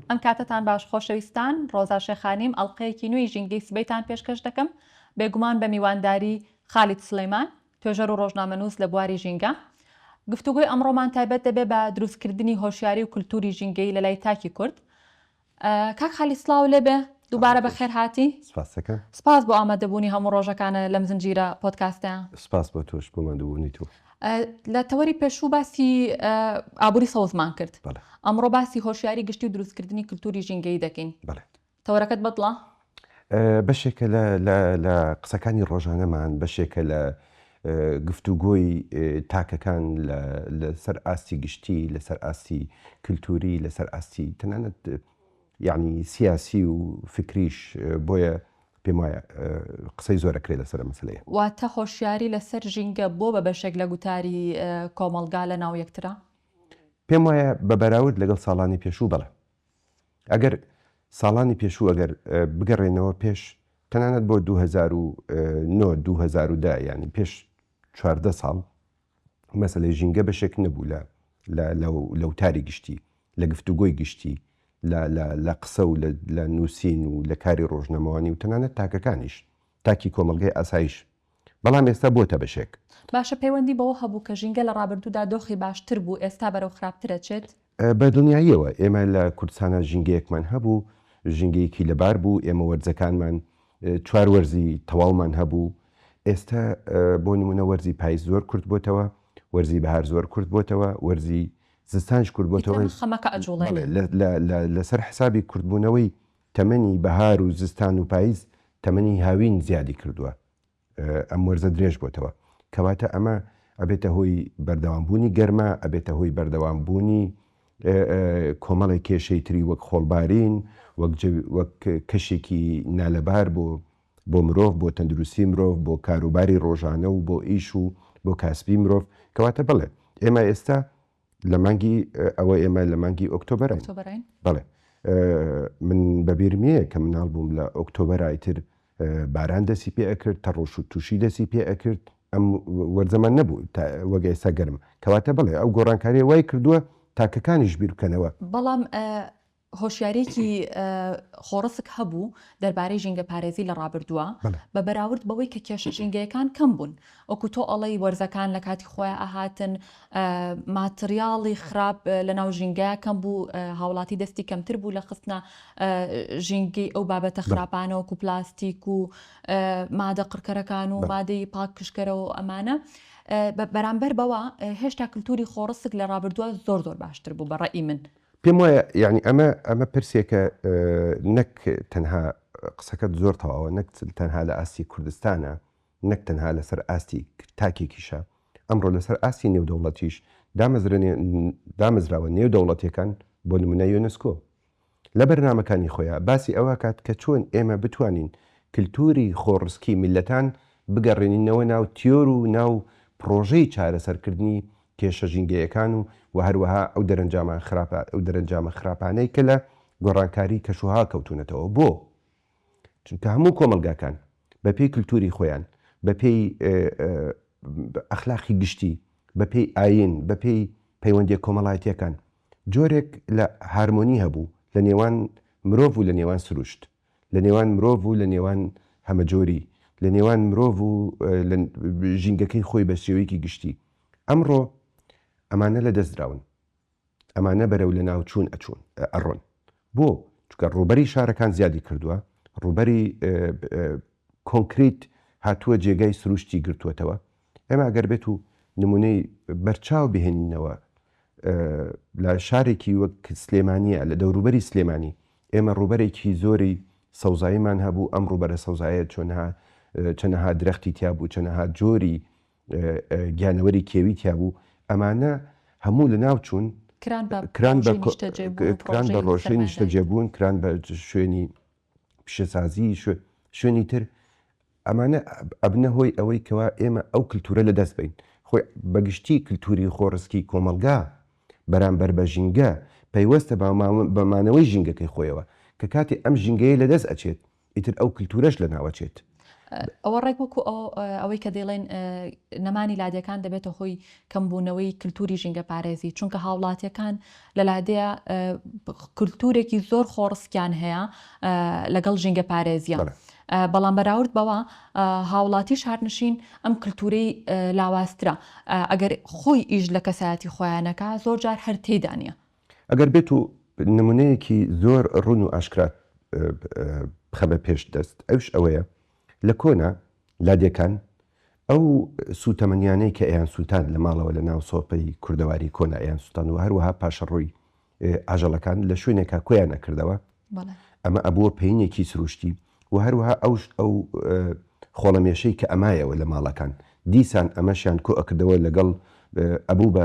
ئەم کاتەتان باش خۆشەویستان، ڕۆزا شێخانیم، ئەڵقەیەکی نوێی ژینگەی سبەیتان پێشکەش دەکەم، بێگومان بە میوانداری خالید سلیمان، توێژەر و ڕۆژنامەنووس لە بواری ژینگە. گفتوگۆی ئەمڕۆمان تایبەت دەبێت بە دروستکردنی هۆشیاری و کلتوری ژینگەیی لە لای تاکی کورد. کاک خالید سڵاو لێ بێ، دووبارە بە خێر هاتی. سپاست دەکەم. سپاس بۆ ئامادەبوونی هەموو ڕۆژەکانە لەم زنجیرە پۆدکاستەیا. سپاس بۆ تۆش بۆ ماندووبوونی تۆ. لە تەوەری پێشوو باسی ئابووری سەوزمان کرد، ئەمڕۆ باسی هۆشیاری گشتی و دروستکردنی کلتوری ژینگەیی دەکەین. تەوەرەکەت بەدڵە؟ بەشێکە لە قسەکانی ڕۆژانەمان، بەشێکە لە گفتوگۆی تاکەکان لەسەر ئاستی گشتی، لەسەر ئاستی کلتوری، لەسەر ئاستی تەنانەت یەعنی سیاسی و فکریش بۆیە پێم وایە قسەی زۆر ئەکرێ لەسەر ئەم مەسەلەیە. واتە هۆشیاری لەسەر ژینگە بۆ بە بەشێک لە گوتاری کۆمەڵگا لە ناو یەکترە؟ پێم وایە بە بەراورد لەگەڵ ساڵانی پێشوو بەڵێ. ئەگەر ساڵانی پێشوو ئەگەر بگەڕێنەوە پێش تەنانەت بۆ دوو هەزار و نۆ دوو هەزار و دە یانی پێش چواردە ساڵ مەسەلەی ژینگە بەشێک نەبوو لە لە وتاری گشتی، لە گفتوگۆی گشتی، لە قسە و لە نووسین و لە کاری ڕۆژنامەوانی و تەنانەت تاکەکانیش، تاکی کۆمەڵگەی ئاسایش، بەڵام ئێستا بۆتە بەشێک. باشە پەیوەندی بەوە هەبوو کە ژینگە لە ڕابردوودا دۆخی باشتر بوو، ئێستا بەرەو خراپتر ئەچێت؟ بە دڵنیاییەوە ئێمە لە کوردستانا ژینگەیەکمان هەبوو، ژینگەیەکی لەبار بوو، ئێمە وەرزەکانمان چوار وەرزی تەواومان هەبوو، ئێستا بۆ نموونە وەرزی پایز زۆر کورت بۆتەوە، وەرزی بەهار زۆر کورت بۆتەوە، وەرزی زستانش کورت بۆتەوە، لەسەر حسابی کورتبوونەوەی تەمەنی بەهار و زستان و پایز تەمەنی هاوین زیادی کردووە، ئەم وەرزە درێژ بۆتەوە کەواتە ئەمە ئەبێتە هۆی بەردەوام بوونی گەرما ئەبێتە هۆی بەردەوام بوونی کۆمەڵی کێشەی تری وەک خۆڵبارین وەک کەشێکی نالەبار بۆ بۆ مرۆڤ بۆ تەندروستی مرۆڤ بۆ کاروباری ڕۆژانە و بۆ ئیش و بۆ کاسبی مرۆڤ کەواتە بڵێ ئێمە ئێستا لە مانگی ئەوە ئێمە لە مانگی ئۆکتۆبەرین ئۆکتۆبەرین؟ بەڵێ ئە، من بە بیرم یە کە مناڵ بووم لە ئۆکتۆبەر ئایتر باران دەسی پێ ئەکرد تەڕۆش و تووشی دەسی پێ ئەکرد ئەم وەرزەمان نەبوو تا وەک ئێستا گەرم کەواتە بەڵێ ئەو گۆڕانکاریە وای کردووە تاکەکانیش بیر بکەنەوە. بەڵام ئە، هۆشیارییەکی خۆڕسک هەبوو دەربارەی ژینگەپارێزی لە ڕابردووە، بە بەراورد بەوەی کە کێشە ژینگەیەکان کەم بوون. وەکو تۆ ئەڵێی وەرزەکان لە کاتی خۆیان ئەهاتن، ماتریاڵی خراپ لە ناو ژینگەیا کەم بوو، هاوڵاتی دەستی کەمتر بوو لە خستنە ژینگەی ئەو بابەتە خراپانە وەکو پلاستیک و مادە قڕکەرەکان و مادەی پاکژکەرە و ئەمانە. بەرامبەر بەوە هێشتا کلتوری خۆڕسک لە ڕابردووە زۆر زۆر باشتر بوو بە ڕەئی من. پێم وایە یانی ئەمە ئەمە پرسێکە نەک تەنها قسەکەت زۆر تەواوە نەک تەنها لە ئاستی کوردستانە نەک تەنها لەسەر ئاستی تاکێکیشە ئەمڕۆ لەسەر ئاستی نێودەوڵەتیش دامەزرێنێ دامەزراوە نێودەوڵەتەکان بۆ نمونە یۆنسکۆ لە بەرنمەکانی خۆیان باسی ئەوە کات کە چۆن ئێمە بتوانین کللتوری خۆڕسکی میلەتان بگەڕێنینەوە ناو تیۆر و ناو پرۆژەی چارەسەرکردنی کێشە ژینگەیەکان و وە هەروەها ئەو دەرەنجامان خراپە ئەو دەرەنجامە خراپانەی کە لە گۆڕانکاری کەشوهەوا کەوتونەتەوە بۆ؟ چونکە هەموو کۆمەڵگاکان بە پێی کلتوری خۆیان بە پێی ئەخلاقی گشتی بە پێی ئاین بە پێی پەیوەندیە کۆمەڵایەتیەکان جۆرێک لە هارمۆنی هەبوو لە نێوان مرۆڤ و لە نێوان سروشت لە نێوان مرۆڤ و لە نێوان هەمەجۆری، لە نێوان مرۆڤ و لە ژینگەکەی خۆی بە شێوەیەکی گشتی. ئەمڕۆ ئەمانە لە دەست دراون. ئەمانە بەرەو لە ناو چوون ئەچوون، ئەڕۆن. بۆ؟ چونکە ڕووبەری شارەکان زیادی کردووە، ڕووبەری کۆنکریت هاتووە جێگای سروشتی گرتووەتەوە، ئێمە ئەگەر بێت و نمونەی بەرچاو بهێنینەوە لە شارێکی وەک سلێمانە لە دەوروبەری سلێمانی ئێمە ڕوبەرێکی زۆری سەوزاییمان هەبوو ئەم ڕوبەرە سەوزایە چۆنها چەنەها درەختی تیابوو چەنەها جۆری گیانەوەری کێوی تیابوو ئەمانە هەموو لە ناو چوون کران بە ڕۆژەی نیشتەجێبوون کران بە شوێنی پیشەسازی، شوێنی تر، ئەمانە ئەبنە هۆی ئەوەی کەوا ئێمە ئەو کلتورە لە دەست بەین. خۆی بە گشتی کلتوری خۆڕسکی کۆمەڵگا بەرامبەر بە ژینگە پەیوەستە بە مانەوەی ژینگەکەی خۆیەوە، کە کاتێ ئەم ژینگەیە لە دەست ئەچێت ئیتر ئەو کلتورەش لە ناو ئەچێت. ئەوە ڕێک وەکو ئەوەی کە دەیڵێن نەمانی لادێکان دەبێتە هۆی کەمبوونەوەی کللتوری ژینگە پارێزی چونکە هاوڵاتیەکان لە لادێ کللتورێکی زۆر خۆڕسکیان هەیە لەگەڵ ژینگە پارێزیە. بەڵام بەراورد بەوە هاوڵاتی شارنشین ئەم کللتورەی لاواسترا ئەگەر خۆی ئیش لە کەسایەتی خۆیانەکە زۆر جار هەر تێدانە ئەگەر بێت و نمونەیەکی زۆر ڕوون و ئاشکرات بخەمە پێش دەست ئەوش ئەوەیە لە کۆنا لادێکان ئەو سوتەمەنیانەی کە ئەیان سوتاند لە ماڵەوە لە ناو سۆپەی کوردەواری کۆنا ئەیان سوتان و هەروەها پاشە ڕووی ئاژەڵەکان لە شوێنێکا کۆیان ئەکردەوە ئەمە ئەبووە پینێکی سروشتی و هەروەها ئەوش ئەو خۆڵەمێشەی کە ئەمایەوە لە ماڵەکان دیسان ئەمەشیان کۆ ئەکردەوە لەگەڵ ئەبوو بە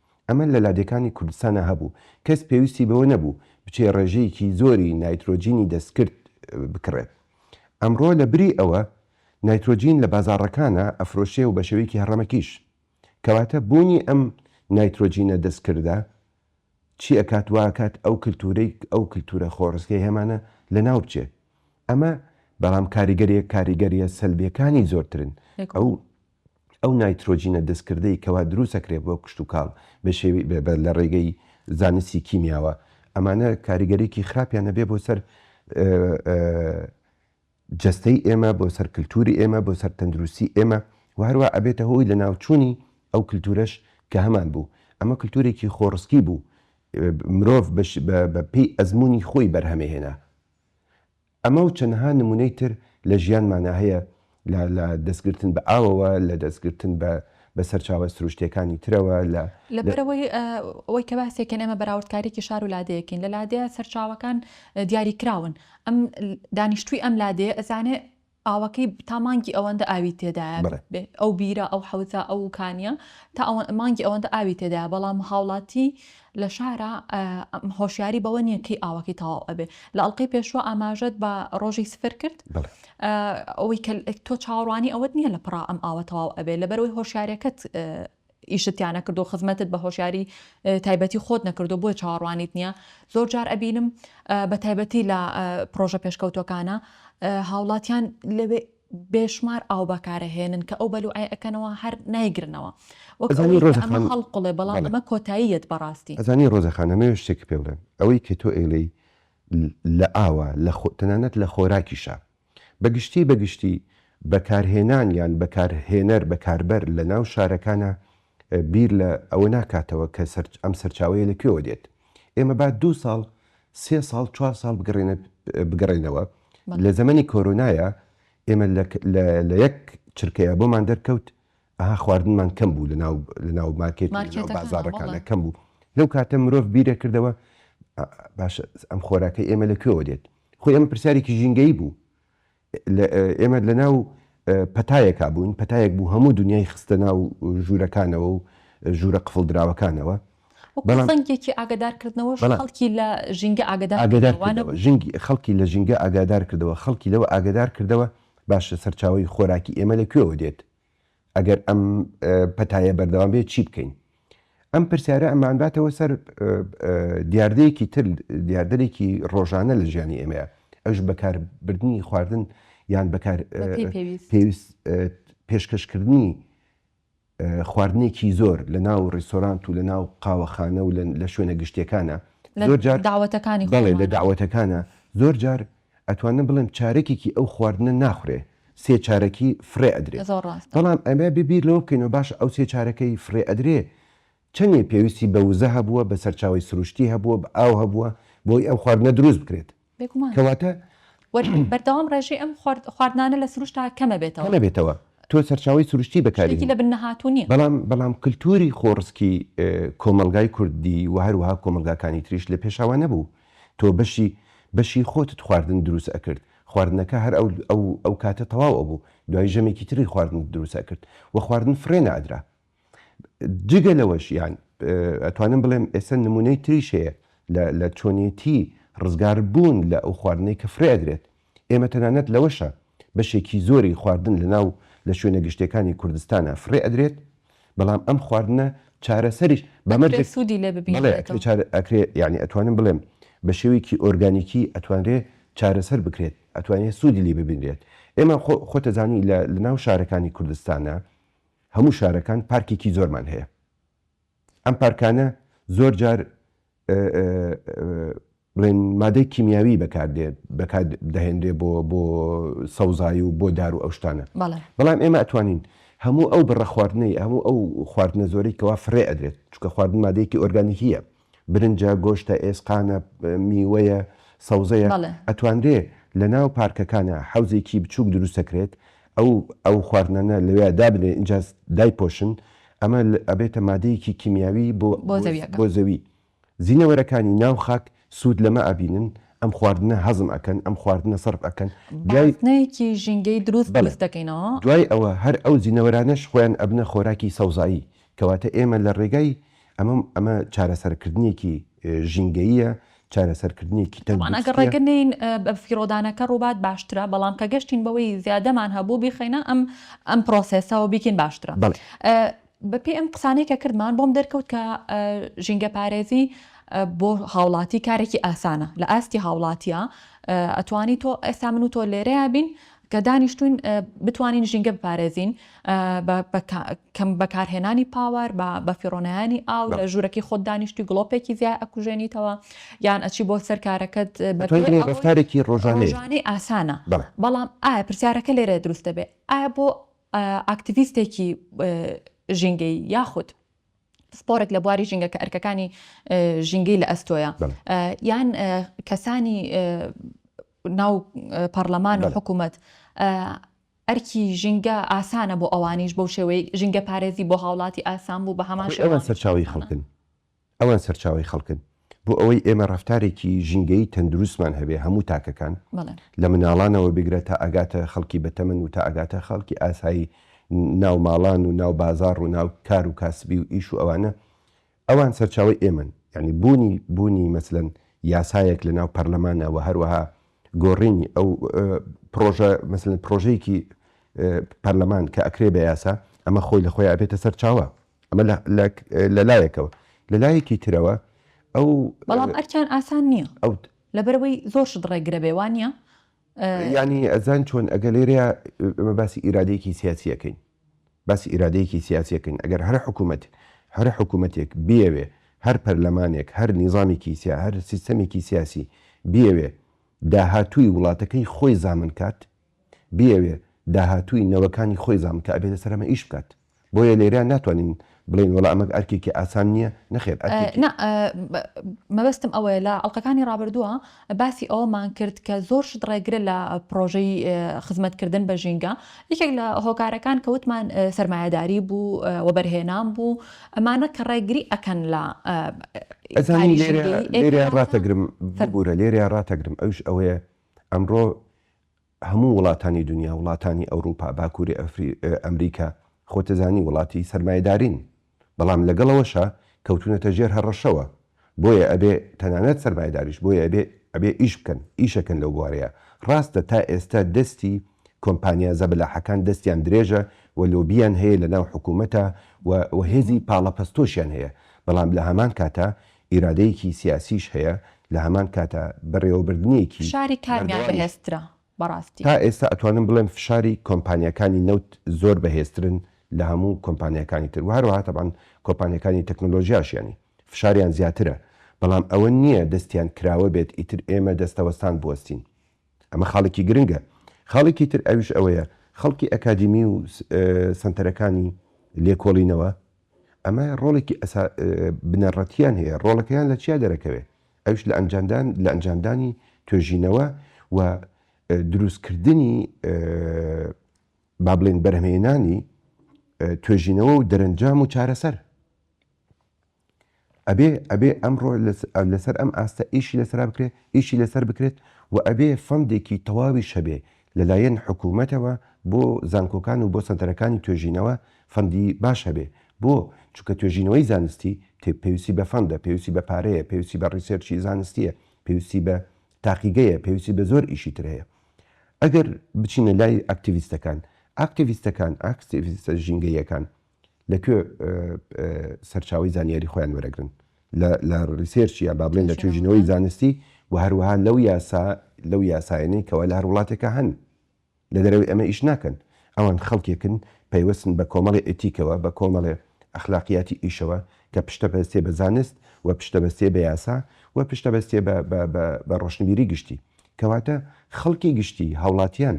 ئەمە لە لادێکانی کوردستانا هەبوو، کەس پێویستی بەوە نەبوو بچێ ڕێژەیەکی زۆری نایترۆجینی دەستکرد بکڕێت. ئەمڕۆ لە بری ئەوە نایترۆجین لە بازاڕەکانا ئەفرۆشرێ و بە شێوەیەکی هەڕەمەکیش. کەواتە بوونی ئەم نایترۆجینە دەستکردە چی ئەکات؟ وا ئەکات ئەو کلتوورەی ئەو کلتوورە خۆڕسکەی هەمانە لە ناو بچێ. ئەمە بەڵام کاریگەریە کاریگەریە سەلبیەکانی زۆرترن. ئەو. ئەو نایترۆجینە دەستکردەی کەوا دروست ئەکرێت بۆ کشتوکاڵ لە ڕێگەی زانستی کیمیاوە ئەمانە کاریگەریی خراپیان ئەبێت بۆ سەر جەستەی ئێمە بۆ سەر کلتوری ئێمە بۆ سەر تەندروستی ئێمە و هەروە ئەبێتە هۆی لە ناوچوونی ئەو کلتورەش کە هەمان بوو ئەمە کلتورێکی خۆڕسکی بوو مرۆڤ بەپێی ئەزموونی خۆی بەرهەمێ هێنا ئەمە و چەندەها نموونەی تر لە ژیانمانا هەیە لە لە دەستگرتن بە ئاوەوە، لە دەستگرتن بە بە سەرچاوە سروشتییەکانی ترەوە، لە لە لە. بەرەوەی ئەوەی کە باسێکەن ئێمە بەراوردکاریی شار و لادێیەکین، لە لادێیە سەرچاوەکان دیاریکراون، ئەم دانیشتووی ئەم لادێیە ئەزانێ ئاوەکەی تا مانگی ئەوەندە ئاوی تێدایە، بەڵێ. بێ ئەو بیرە، ئەو حەوزە، ئەو کانییە تا ئەوە مانگی ئەوەندە ئاوی تێدایە، بەڵام هاوڵاتی لە شارا هۆشیاری بەوە نیە کەی ئاوەکەی تەواو ئەبێ لە ئەڵلقەی پێشوە ئاماژەت بە ڕۆژی سفر کرد ئەوەی کە تۆ چاوەڕوانی ئەوەت نییە لە پڕا ئەم ئاوە تەواو ئەبێ لەبەرەوەی هۆشارەکەت ئیشتیانە کردو خزمەتت بە هۆشیاری تایبەتی خۆت نەکردو بۆی چاوەڕوانیت نییە زۆر جار ئەبینم بە تایبەتی لە پرۆژە پێشکەوتەکانە هاوڵاتیان لەوێ بێشمار ئاو بەکارەهێنن کە ئەو بەلوعەی ئەکەنەوە هەر نایگرنەوە وەک ئەزانی ئەوەی کە ڕۆزە ئەمە خان هەڵقوڵێ بەڵام بەڵێ ئەمە کۆتاییەت بەڕاستی. ئەزانی ڕۆزە خان ئەمەوێ شتێک پێ بڵێم ئەوەی کە تۆ ئێلێی لە ئاوە لە خۆ تەنانەت لە خۆراکیشا بە گشتی بە گشتی بەکارهێنان یان بەکارهێنەر بەکاربەر لە ناو شارەکانا بیر لە ئەوە ناکاتەوە کە ئەم سەرچاوەیە لە کوێوە دێت. ئێمە با دوو ساڵ، سێ ساڵ، چوار ساڵ بگەڕێینەوە. لە زەمەنی کۆرۆنایا ئێمە لە یەک چرکەیا بۆمان دەرکەوت ئەها خواردنمان کەم بوو لەناو مارکێت و لەناو بازاڕەکاندا کەم بوو. لەو کاتە مرۆڤ بیر ئەکردەوە باشە ئەم خۆراکەی ئێمە لە کوێوە دێت؟ خۆی ئەمە پرسیارێکی ژینگەیی بوو. ئێمە لەناو پەتایەکا بووین، پەتایەک بوو هەموو دونیای خستە ناو ژوورەکانەوە و ژوورە قفڵدراوەکانەوە. وەکو زەنگێکی ئاگادارکردنەوەش خەڵکی لە ژینگە ئاگادار کردەوە، وا نەبوو؟ ژینگە، خەڵکی لە ژینگە ئاگادار کردەوە، خەڵکی لەوە ئاگادار کردەوە، باشە سەرچاوەی خۆراکی ئێمە لە کوێوە دێت؟ ئەگەر ئەم پەتایە بەردەوام بێت چی بکەین؟ ئەم پرسیارە ئەمانباتەوە سەر دیاردەیەکی تر دیاردەێکی ڕۆژانە لە ژیانی ئێمەیە ئەوش بەکاربردننی خواردن یان بەکار پێویست پێشکەشکردنی خواردنێکی زۆر لە ناو ڕیسۆرانت و لە ناو قاوەخانە و لە شوێنە گشتەکانە زۆر جار داوەتەکانی بەڵێ لە داوەتەکانە زۆر جار ئەتوانم بڵێم چارەکێکی ئەو خواردنە ناخورێ سێ چارەکی فڕێ ئەدرێ زۆر ڕاستە. بەڵام ئەبێ بیر لەوە بکەینەوە باشە ئەو سێ چارەکەی فڕێ ئەدرێ چەنێ پێویستی بە وزە هەبووە بە سەرچاوەی سروشتی هەبووە بە ئاو هەبووە بۆی ئەو خواردنە دروست بکرێت بێگومان. کەواتە. و بەردەوام ڕێژەی ئەم خواردنانە لە سروشتا کەمە بێتەوە. کەمە بێتەوە تۆ سەرچاوەی سروشتی بەکاری شتێکی هێنی. لە بن نەهاتوو نیە. بەڵام بەڵام کلتوری خۆڕسکی کۆمەڵگای کوردی و هەروەها کۆمەڵگاکانی تریش لە پێشەوا نەبوو. تۆ بەشی بەشی خۆتت خواردن دروست ئەکرد خواردنەکە هەر ئەو ئەو ئەو کاتە تەواو ئەبوو دوای ژەمێکی تری خواردنت دروست ئەکرد وە خواردن فڕێ نەئەدرا جگە لەوەش یان ئەتوانم بڵێم ئێستا نمونەی تریش هەیە لە لە چۆنێتی ڕزگار بوون لە ئەو خواردنەی کە فڕێ ئەدرێت ئێمە تەنانەت لەوەشا بەشێکی زۆری خواردن لەناو لە شوێنە گشتیەکانی کوردستانا فڕێ ئەدرێت، بەڵام ئەم خواردنە چارەسەریش بە مەرجێک بەڵێ ئەکرێ چار ئەکرێ یانی ئەتوانم بڵێم بە شێوەیەکی ئۆرگانیکی ئەتوانرێ چارەسەر بکرێت ئەتوانێ سوودی لی ببینرێت ئێمە خۆ خۆتەزانی لە لەناو شارەکانی کوردستانا هەموو شارەکان پارکێکی زۆرمان هەیە. ئەم پارکانە زۆر جار بڵێن مادەی کیمیاوی بەکاردێت بەکات دەهێنرێ بۆ بۆ سەوزایی و بۆ دار و ئەوشتانە بەڵام ئێمە ئەتوانین هەموو ئەو بڕە خواردنەی هەموو ئەو خواردنە زۆری کەوا فرێ ئەدرێت چکە خواردن مادەیەکی ئۆرگانیکیە برنجە گۆشتە ئێسقانە میوەیە سەوزەیە ئەتوانرێ لە ناو پارکەکانە حوزێکی بچووک دروستەکرێت ئەو ئەو خواردنانە لەوێیا دابنێن ئینجا دایپۆشن ئەمە ئەبێتە مادەیەکی کیمیاوی بۆ بۆ زەوی زینەوەرەکانی ناو خاک سوود لەمە ئەبینن ئەم خواردنە هەزم ئەکەن ئەم خواردنە سەرف ئەکەن دوایەکی ژینگەی دروست بەرز دەکەینەوە دوای ئەوە هەر ئەو زینەوەرانەش خۆیان ئەبنە خۆراکی سەوزایی کەواتە ئێمە لە ڕێگای ئەمە ئەمە چارەسەرکردنێکی ژینگەییە، چارەسەرکردنێکی تەندروستیە. بەڵام ئەگەر ڕێگە نێین بە فیڕۆدانەکە ڕووبات باشترە، بەڵام کە گەشتین بەوەی زیادەمان هەبوو بیخەینە ئەم ئەم پرۆسێسە و بیکەین باشترە. بە پێی ئەم قسانەی کە کردمان بۆم دەرکەوت کە ژینگەپارێزی بۆ هاوڵاتی کارێکی ئاسانە لە ئاستی هاوڵاتیا ئەتوانی تۆ ئێستا من و تۆ لێرەیا بین کە دانیشتووین بتوانین ژینگە بپارێزین بە کەم بەکارهێنانی پاوەر بە بەفیڕۆنیانی ئاو لە ژوورەکەی خۆت دانیشتی گڵۆپێکی زیای ئەکوژێنیتەوە یان ئەچی بۆ سەرکارەکەت بەفتارێکی ڕۆژانەی ئاسانە بەڵام ئایا پرسیارەکە لێرە دروست دەبێت ئایا بۆ ئاکتیویستێکی ژینگەی یاخود پسپۆرێک لە بواری ژینگە کە ئەرکەکانی ژینگەی لە ئەستۆیە یان کەسانی ناو پەرلەمان و حکوومەت ئەرکی ژینگە ئاسانە بۆ ئەوانیش بەو شێوەی ژینگە پارێزی بۆ هاوڵاتی ئاسان بوو بە هەمان شێوە ئەوان سەرچاوی خەڵکن ئەوان سەرچاوی خەڵکن بۆ ئەوەی ئێمە ڕەفتارێکی ژینگەیی تەندروستمان هەبێ هەموو تاکەکان، لە مناڵانەوە بگرە تا ئەگاتە خەڵکی بەتەمەن و تا ئەگاتە خەڵکی ئاسایی ناو ماڵان و ناو بازاڕ و ناو کار و کاسبی و ئیش و ئەوانە، ئەوان سەرچاوەی ئێمەن. یانی بوونی بوونی مەسەلەن یاسایەک لە ناو پەرلەمانە و هەروەها گۆڕینی ئەو پڕۆژە مەسەلەن پڕۆژەیەکی پەرلەمان کە ئەکرێ بە یاسا، ئەمە خۆی لە خۆیا ئەبێتە سەرچاوە. ئەمە لە لایەکەوە لە لایەکی ترەوە ئەو بەڵام ئەرکیان ئاسان نییە ئەو لەبەرەوەی زۆر شت ڕێگرە بێ وان نیە ینی ئەزان چۆن ئەگە لێرەیە ئەمە باسی ئیرادەیەکی سیاسیەکەین باسی ئیرادەیەکی سیاسیەکەین ئەگەر هەر حکوومەت هەر حکوومەتێک بیاوێ هەر پەرلەمانێک هەر نیزانێکی سیا هەر سیستەمێکی سیاسی بیاوێ داهاتووی وڵاتەکەی خۆی زامن کات بیەوێ داهاتووی نەوەکانی خۆی زاڵ بکا ئەبێتە سەر ئەمە ئیش بکات بۆیە لێرە ناتوانین بڵێین وەڵا ئەمە ئەرکێکی ئاسان نیە نەخێر ئەرکێکی نا مەبەستم ئەوەیە لە ئەڵقەکانی ڕابردووە باسی ئەوەمان کرد کە زۆر شت ڕێگرە لە پرۆژەی خزمەتکردن بە ژینگە یەکێک لە هۆکارەکان کە وتمان سەرمایەداری بوو وەبەرهێنان بوو ئەمانە کە ڕێگری ئەکەن لە ئەزانی لێرە لێرە ڕاتەگرم فەربوورە لێرە ڕاتەگرم ئەوش ئەوەیە ئەمڕۆ هەموو وڵاتانی دونیا، وڵاتانی ئەوروپا، باکوری ئەمریکا، خۆتدەزانی وڵاتی سەرمایەدارین، بەڵام لەگەڵ ئەوەشا کەوتونەتە ژێر هەڕەشەوە، بۆیە ئەبێ تەنانەت سەرمایەداریش بۆیە ئەبێ ئەبێ ئیش بکەن، ئیشەکەن لەو بوارەیا، ڕاستە تا ئێستا دەستی کۆمپانیا زەبەلاحەکان دەستیان درێژە و لۆبیان هەیە لەناو حکومەتا و و هێزی پاڵەپەستۆشیان هەیە، بەڵام لەهەمان کاتا ئیرادەیەکی سیاسیش هەیە لە هەمان کاتا بەڕێوەبردنێکی فشاری کامیان بەهێزترە بەڕاستی؟ تا ئێستا ئەتوانم بڵێم فشاری کۆمپانیاکانی نەوت زۆر بەهێزترن لە هەموو کۆمپانیاکانی تر وەهەروەها تەبعەن کۆپانیاکانی تەکنۆلۆژیاش یانی فشاریان زیاترە بەڵام ئەوە نیە دەستیان کراوە بێت ئیتر ئێمە دەستەوەستان بوەستین ئەمە خاڵێکی گرنگە. خاڵێکی تر ئەویش ئەوەیە خەڵکی ئەکادیمی و سەنتەرەکانی لێکۆڵینەوە ئەمە ڕۆڵێکی ئەسا بنەڕەتیان هەیە ڕۆڵەکەیان لە چیا دەرەکەوێ ئەوش لە ئەنجاندان لە ئەنجامدانی توێژینەوە و دروستکردنی با بڵێن بەرهەمێنانی توێژینەوە و دەرەنجام و چارەسەر. ئەبێ ئەبێ ئەمڕۆ لەسەر ئەم ئاستە ئیشی لەسەرا بکرێت، ئیشی لەسەر بکرێت و ئەبێ فەندێکی تەواویش هەبێ لەلایەن حکوومەتەوە بۆ زانکۆکان و بۆ سەنتەرەکانی توێژینەوە فەندی باش هەبێ بۆ چونکە توێژینەوەی زانستی پێویستی بە فەندە، پێویستی بە پارەیە، پێویستی بە ڕیسێرچی زانستییە، پێویستی بە تاقیگەیە، پێویستی بە زۆر ئیشی تر هەیە. ئەگەر بچینە لای ئاکتیڤیستەکان، ئاکتیڤیستەکان، ئاکتیڤیستە ژینگەییەکان لە کوێ سەرچاوەی زانیاری خۆیان وەرەگرن لە ریسێرچ یان با بڵێن لە توێژینەوەی زانستی و هەروەها لەو یاسا لەو یاسایەنەی کەوا لە هەر وڵاتێکە هەن لە دەرەوەی ئەمە ئیش ناکەن ئەوان خەڵکێکن پەیوەستن بە کۆمەڵی ئەتیکەوە بە کۆمەڵێ ئەخلاقیاتی ئیشەوە کە پشتە بەستێ بە زانست و پشتە بەستێ بە یاسا و پشتە بەستێ بە ڕۆشنبیری گشتی کەواتە خەڵکی گشتی هاوڵاتیان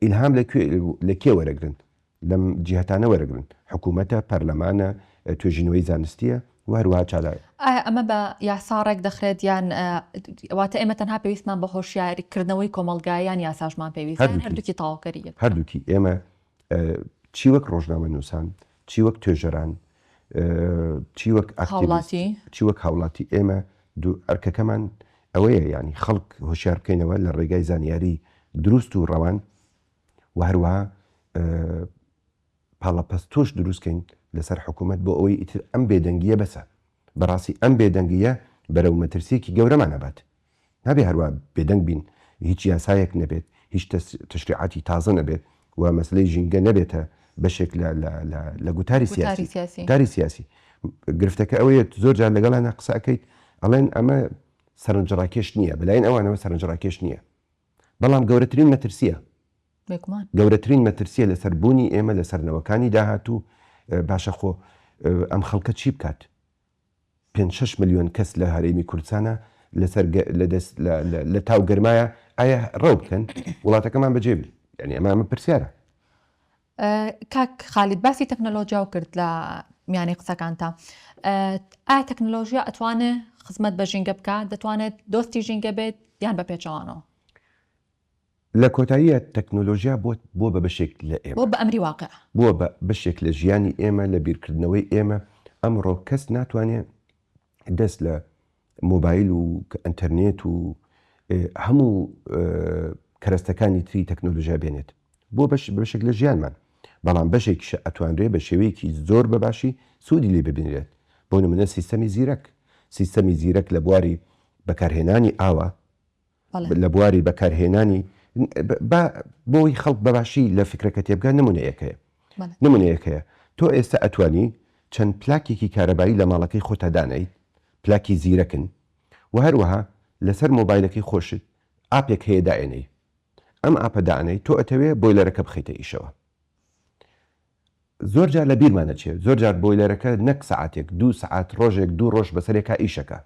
ئیلهام لە کوێ لە کێ وەرەگرن؟ لەم جیهەتانە وەرەگرن، حکوومەتە، پەرلەمانە، توێژینەوەی زانستییە و هەروەها چالاک. ئایا ئەمە بە یاسا ڕێک دەخرێت یان واتە ئێمە تەنها پێویستمان بە هۆشیارکردنەوەی کۆمەڵگایە یان یاساشمان پێویستە یان هەردووکی تەواوکەری یەکە؟ هەردووکی، ئێمە چی وەک ڕۆژنامەنووسان، چی وەک توێژەران، چی وەک ئاکتیڤیست، چی وەک هاوڵاتی، ئێمە ئەرکەکەمان ئەوەیە یانی خەڵک هۆشیار بکەینەوە لە ڕێگای زانیاری دروست و ڕەوان و هەروەها پاڵەپەستۆش دروستکەین لەسەر حکوومەت بۆ ئەوەی ئیتر ئەم بێدەنگییە بەسە. بەڕاستی ئەم بێدەنگییە بەرەو مەترسییەکی گەورەمان ئەبات. نابێ هەروا بێدەنگ بین هیچ یاسایەک نەبێت، هیچ تەشریعاتی تازە نەبێت و مەسەلەی ژینگە نەبێتە بەشێک لە لە لە لە گوتاری سیاسی گوتاری سیاسی. گرفتەکە ئەوەیە زۆر جار لەگەڵانا قسە ئەکەیت ئەڵێن ئەمە سەرنجڕاکێش نییە، بەلایەن ئەوانەوە سەرنجڕاکێش نییە. بەڵام گەورەترین مەترسییە. بێگومان. گەورەترین مەترسییە لەسەر بوونی ئێمە، لەسەر نەوەکانی داهاتوو. باشە خۆ ئەم خەڵکە چی بکات؟ پێنج شەش ملیۆن کەس لە هەرێمی کوردستانە، لەسەر لە دەست لە لە تاو گەرمایە، ئایا ڕەو بکەن وڵاتەکەمان بەجێ بێ؟ یانی ئەمە ئەمە پرسیارە. کاک خالید باسی تەکنەلۆجیاو کرد لە میانی قسەکانتا ئایا تەکنەلۆژیا ئەتوانێ خزمەت بە ژینگە بکە دەتوانێت دۆستی ژینگە بێت یان بە پێچەوانەوە لە کۆتاییە تەکنۆلۆژیا بۆ بۆ بە بەشێک لە ئێمە بۆ بە ئەمری واقع بۆ بە بەشێک لە ژیانی ئێمە لە بیرکردنەوەی ئێمە ئەمڕۆ کەس ناتوانێ دەست لە مۆبایل و ئەنتەرنێت و هەموو کەرەستەکانی تری تەکنۆلژیا بێنێت بۆ بەش بەشێک لە ژیانمان بەڵام بەشێکیشە ئەتوانرێ بە شێوەیەکی زۆر بە باشی سوودی لێ ببینرێت بۆ نمونە سیستەمی زیرەک سیستەمی زیرەک لە بواری بەکارهێنانی ئاوە لە بواری بەکارهێنانی با بۆ ئەوەی خەڵک بە باشی لە فیکرەکە تێ بگا نموونەیەک هەیە نموونەیەک هەیە تۆ ئێستا ئەتوانی چەند پلاکێکی کارەبایی لە ماڵەکەی خۆتا دانێیت پلاکی زیرەکن و هەروەها لەسەر مۆبایلەکەی خۆشت ئاپێک هەیە دائێنێی ئەم ئاپە دانێیت تۆ ئەتەوێ بۆیلەرەکە بخەیتە ئیشەوە زۆر جار لە بیرمان دەچێت زۆر جار بۆیلەرەکە نەک سەعاتێک دوو سەعات ڕۆژێک دوو ڕۆژ بەسەرێکا ئیش ئەکا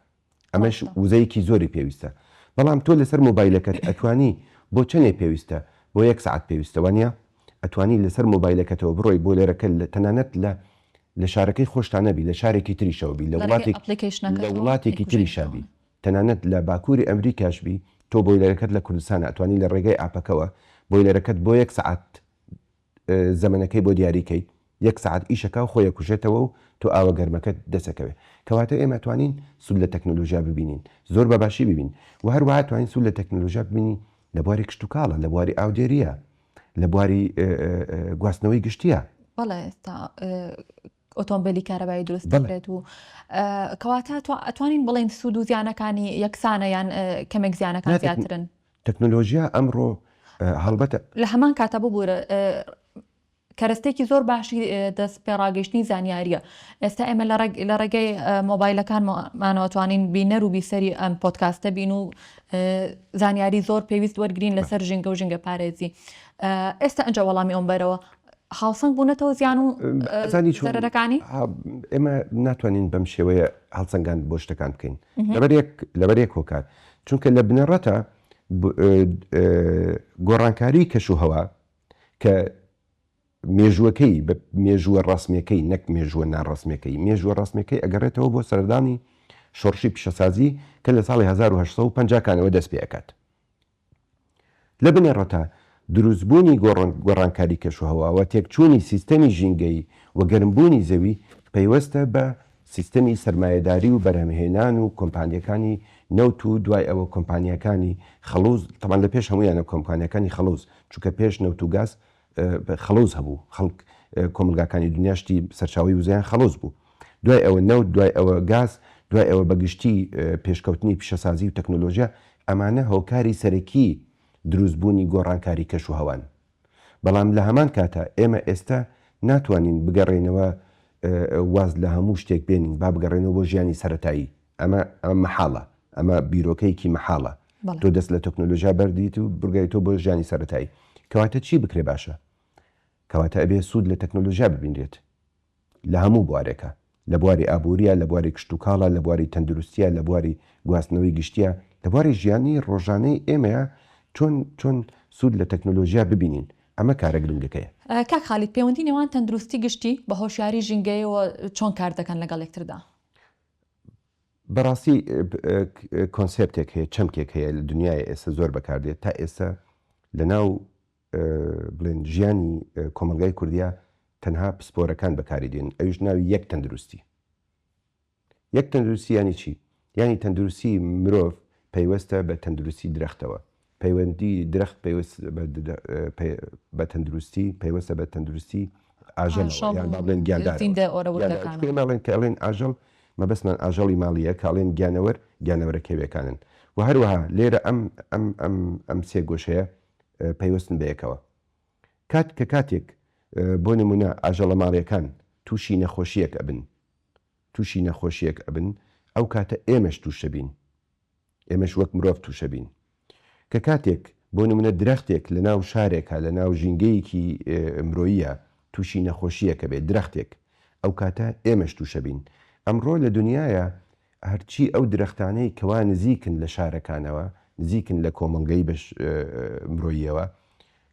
ئەمەش ڕاستە وزەیەکی زۆری پێویستە بەڵام تۆ لەسەر مۆبایلەکەت ئەتوانی بۆ چەنێ پێویستە بۆ یەک سەعات پێویستە وانیە ئەتوانی لەسەر مۆبایلەکەتەوە بڕۆی بۆیلەرەکە لە تەنانەت لە لە شارەکەی خۆشتا نەبی لە شارێکی تریشەوە بی لە لە ڕێگەی وڵاتێک ئەپڵیکەیشنەکە لە تۆ وڵاتێکی تریشا بی بیکوژێنیتەوە تەنانەت لە باکووری ئەمریکاش بی تۆ بۆیلەرەکەت لە کوردستانە ئەتوانی لە ڕێگەی ئاپەکەوە بۆیلەرەکەت بۆ یەک سەعات زەمەنەکەی بۆ دیاری کەی یەک سەعات ئیشەکا و خۆی ئەکوژێتەوە و تۆ ئاوە گەرمەکەت دەست ئەکەوێ کەواتە ئێمە ئەتوانین سود لە تەکنەلۆژیا ببینین زۆر بە باشی ببین و هەروەها ئەتوانین سود لە تەکنەلۆژیا ببینین لە بواری کشتوکاڵە لە بواری ئاودێریە لە بواری گواستنەوەی گشتیە. بەڵێ ئۆتۆمبێلی کارەبایی دروست بکرێت و کەواتە تۆ ئەتوانین بڵێن سوود و زیانەکانی یەکسانە یان کەمێک زیانەکان زیاترن تەکنۆلۆژیا ئەمڕۆ هەڵبەتە لە هەمان کاتە ببوورە کەرەستێکی زۆر باشی دەست پێڕاگەشتنی زانیاریە ئێستا ئێمە لە ڕێگەی مۆبایلەکانمانەوەتوانین بینەر و بیسەری ئەم پۆتکاستە بین و زانیاری زۆر پێویست وەرگین لەسەر ژینگە و ژینگە پارێزی ئێستا ئەجا وەڵامی ئەوم بەرەوە هاوسەنگ بوونەتەوە زیان و زەرەرەکانی؟ ئێمە ناتوانین بەم شێوەیە هەڵسەنگان بۆ شتەکان بکەین لەبەرێک هۆکار چونکە لە بنەڕەتە گۆڕانکاری کەش و هەوا کە مێژوەکەی بە مێژووە ڕاستمەکەی نەک مێژووە ناڕاستمەکەی مێژووە ڕاستمەکەی ئەگەڕێتەوە بۆ سەردانی شۆڕشی پیشەسازی کە لە ساڵی 1950 کانەوە دەست پێکات لە بنەڕەتە دروستبوونی گۆڕانکاری کەشوهەوا و تێکچوونی سیستەمی ژینگەیی و گەرمبوونی زەوی پەیوەستە بە سیستەمی سەرمایەداری و بەرهەمهێنان و کۆمپانیاکانی نەوت و دوای ئەوە کۆمپانیاکانی خەڵوز تەبعەن لە پێش هەموویانە کۆمپانیاکانی خەڵوز چونکە پێش نەوت و گاز خەڵوز هەبوو خەڵک کۆمەڵگاکانی دنیا شتی سەرچاوەی وزەیان خەڵوز بوو دوای ئەوە نەوت دوای ئەوە گاز دوای ئەوە بە گشتی پێشکەوتنی پیشەسازی و تەکنۆلۆژیا ئەمانە هۆکاری سەرەکی دروست بوونی گۆڕانکاری کەش و هەوان بەڵام لە هەمان کاتا ئێمە ئێستا ناتوانین بگەڕێینەوە واز لە هەموو شتێک بێنین با بگەڕێنەوە بۆ ژیانی سەرەتایی ئەمە ئەمە مەحاڵە ئەمە بیرۆکەیەکی مەحاڵە تۆ دەست لە تەکنۆلۆژیا بەردیت و بگای تۆ بۆ ژیانی سەتایی کەواتە چی بکرێ باشە کەواتە ئەبێ سوود لە تەکنۆلۆژیا ببینرێت لە هەموو بوارێکە لە بواری ئابووریە لە بواری کشتتوکاڵە لە بواری تەندروستیە لە بواری گواستنەوەی گشتیە لە بواری ژیانی ڕۆژانەی ئێمەیە چۆن چۆن سوود لە تەکنۆلۆژیا ببینین ئەمە کارە گرنگەکەیە کاک خالید پەیوەندی نێوان تەندروستی گشتی بە هۆشیاری ژینگەیەوە چۆن کار دەکەن لەگەڵ یەکتردا؟ بەڕاستی کۆنسێپتێک هەیە چەمکێک هەیە لە دنیای ئێستا زۆر بەکاردێت تا ئێستا لە ناو بڵێن ژیانی کۆمەلگای کوردیا تەنها پسپۆرەکان بەکاری دێن ئەوش ناوی یەک تەندروستی یەک تەندروستی ینی چی یعنی تەندروستی مرۆڤ پەیوەستە بە تەندروستی درەختەوە پەیوەندی درەخت بە تەندروستی پەیوەستە بە تەندروستی ئاژەڵەوە یان با بڵێن گیاندارەوە کە ئەڵێن ئاژەڵ مەبەستمان ئاژەڵی ماڵییە کە ئەڵێن گیانەوەر گیانەوەرە کێویەکانن و هەروەها لێرە ئەم ئەم ئەم ئەم سێ گۆشەیە پەیوەستن بە یەکەوە کات کە کاتێک بۆ نمونە ئاژەڵە ماڵیەکان تووشی نەخۆشیەک ئەبن تووشی نەخۆشیەک ئەبن ئەو کاتە ئێمەش تووشەبین ئێمەش وەک مرۆڤ تووشەبین. کە کاتێک بۆ نموونە درەختێک لە ناو شارێکا لە ناو ژینگەیەکی مرۆییە تووشی نەخۆشییەکە بێت درەختێک ئەو کاتە ئێمەش تووشەبین. ئەمڕۆ لە دنیایا هەرچی ئەو درەختانەی کەوا نزیکن لە شارەکانەوە نزیکن لە کۆمەڵگەی مرۆییەوە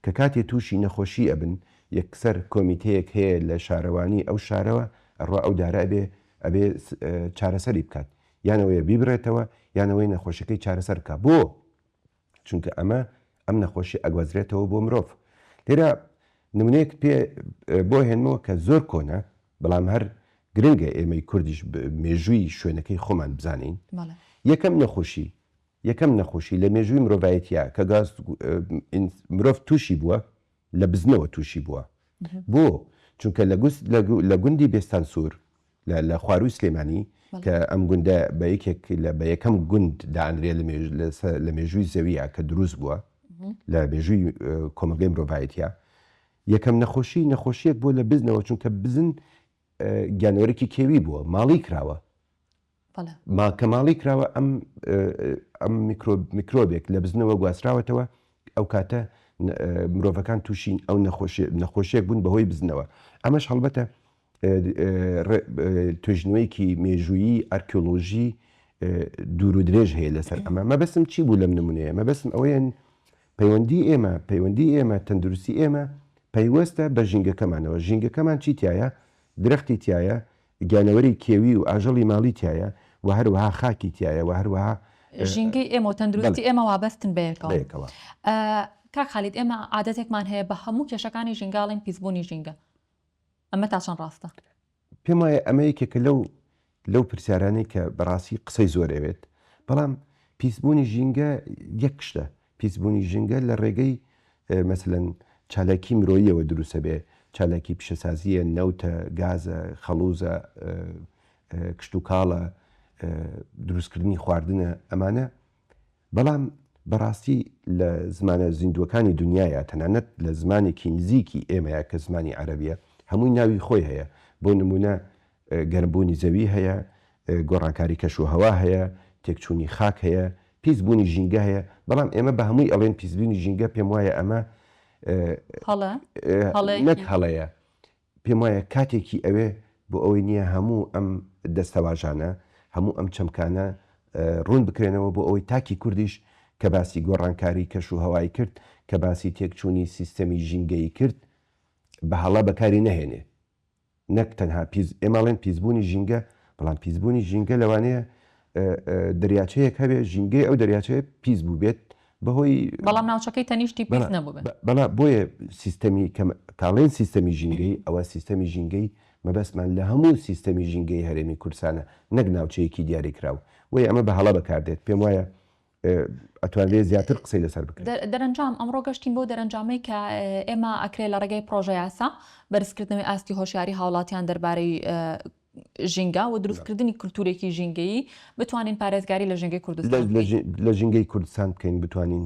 کە کاتێ تووشی نەخۆشی ئەبن یەکسەر کۆمیتەیەک هەیە لە شارەوانی ئەو شارەوە ئەڕوا ئەو دارە ئەبێ ئەبێ چارەسەری بکات یان ئەوەیە بیبڕێتەوە یان ئەوەی نەخۆشیەکەی چارەسەر بکا بۆ؟ چونکە ئەمە ئەم نەخۆشی ئەگوازرێتەوە بۆ مرۆڤ لێرە نمونەیەک پێ بۆ هێنمەوە کە زۆر کۆنە بەڵام هەر گرنگە ئێمەی کوردیش مێژووی شوێنەکەی خۆمان بزانین یەکەم نەخۆشی یەکەم نەخۆشی لە مێژووی مرۆڤایەتە کە گاز مرۆڤ تووشی بووە لە بزنەوە تووشی بووە بۆ چونکە لە گوست لە گوندی بێستان سوور لە لە خوارووی سلێمانی کە ئەم گوندە بە یەکێک لە بە یەکەم گوند دانرێت لە مێژ لە مێژووی زەویە کە دروست بووە لە مێژووی کۆمەلگەی مرۆڤایەتە یەکەم نەخۆشی نەخۆشیەک بۆ لە بزنەوە چونکە بزن گیانۆرەکی کێوی بووە ماڵی کراوە ماکە ماڵی کراوە ئەم ئەم میکرۆبێک لە بزنەوە گواستراوەتەوە ئەو کاتە مرۆڤەکان تووشین ئەو نەخۆشی نەخۆشیەک بوون بەهۆی بزنەوە ئەمەش هەڵبەتە توێژینەوەیەکی مێژوویی ئەرکیۆلۆژی دوور و درێژ هەیە لەسەر ئەمە مەبەستم چی بوو لەم نمونەیە مەبەستم ئەوەیە پەیوەندی ئێمە پەیوەندی ئێمە تەندروستی ئێمە پەیوەستە بە ژینگەکەمانەوە ژینگەکەمان چی تایە درەختی تایە گیانەوەری کێوی و ئاژەڵی ماڵی تایە و هەروەها خاکی تایە و هەروەها ژینگەی ئێمە و تەندروستی ئێمە وابەستن بەیەکەوە کاک خالید ئێمە عادەتێکمان هەیە بە هەموو کێشەکانی ژینگەڵین پیسبوونی ژینگە ئەمە تا چەند ڕاستە؟ پێم وایە ئەمە یەکێکە لەو لەو پرسیارانەی کە بەڕاستی قسەی زۆر ئەوێت، بەڵام پیسبوونی ژینگە یەک شتە، پیسبوونی ژینگە لە ڕێگەی مەسەلەن چالاکی مرۆییەوە دروستە بێ، چالاکی پیشەسازییە، نەوتە، گازە، خەڵووزە، کشتوکاڵە، دروستکردنی خواردنە، ئەمانە بەڵام بەڕاستی لە زمانە زیندووەکانی دونیایە، تەنانەت لە زمانێکی نزیکی ئێمەیە کە زمانی عەرەبییە، هەمووی ناوی خۆی هەیە، بۆ نموونە گەرمبوونی زەوی هەیە، گۆڕانکاری کەشوهەوا هەیە، تێکچوونی خاک هەیە، پیسبوونی ژینگە هەیە، بەڵام ئێمە بە هەمووی ئەڵێین پیسبوونی ژینگە، پێموایە ئەمە نەک هەڵەیە، پێم وایە کاتێکی ئەوێ بۆ ئەوەی نییە هەموو ئەم دەستەواژانە، هەموو ئەم چەمکانە ڕوون بکرێنەوە بۆ ئەوەی تاکی کوردیش کە باسی گۆڕانکاری کەشوهەوای کرد، کە باسی تێکچوونی سیستەمی ژینگەیی کرد، بە هەڵە بەکاری نەهێنێ. نەک تەنها پیس، ئێمە ئەڵێن پیسبوونی ژینگە، بەڵام پیسبوونی ژینگە لەوانەیە دەریاچەیەک هەبێ، ژینگەی ئەو دەریاچەیە پیس بووبێت، بەهۆی بەڵام ناوچەکەی تەنیشتی پیس نەبووبێت. بەڵا بۆیە سیستەمی کە تاڵێن سیستەمی ژینگەی ئەوە سیستەمی ژینگەی مەبەستمان لە هەموو سیستەمی ژینگەی هەرێمی کوردستانە نەک ناوچەیەکی دیاریکراو بۆیە ئەمە بە هەڵە بەکاردێت پێم وایە ئەتوانرێت زیاتر قسەی لەسەر بکرێت. دەرەنجام ئەمڕۆ گەشتین بۆ دەرەنجامەی کە ئێمە ئەکرێ لە ڕێگەی پڕۆژەیاسا بەرزکردنەوەی ئاستی هۆشیاری هاوڵاتیان دەربارەی ژینگە و دروستکردنی کولتوورێکی ژینگەیی بتوانین پارێزگاری لە ژینگەی کوردستان بکەین. لە ژینگەی کوردستان بکەین بتوانین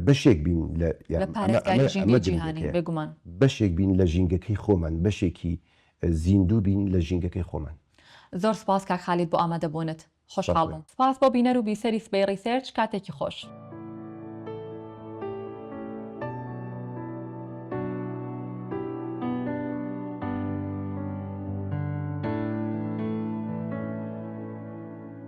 بەشێک بین لە پارێزگاری ژینگەی جیهانی بێگومان. بەشێک بین لە ژینگەکەی خۆمان، بەشێکی زیندوو بین لە ژینگەکەی خۆمان. زۆر سوپاس کاک خالید بۆ ئامادەبوونت. خۆشحاڵ بووم. سپاس بۆ بینەر و بیسەری سبەی ڕیسێرچ، کاتێکی خۆش.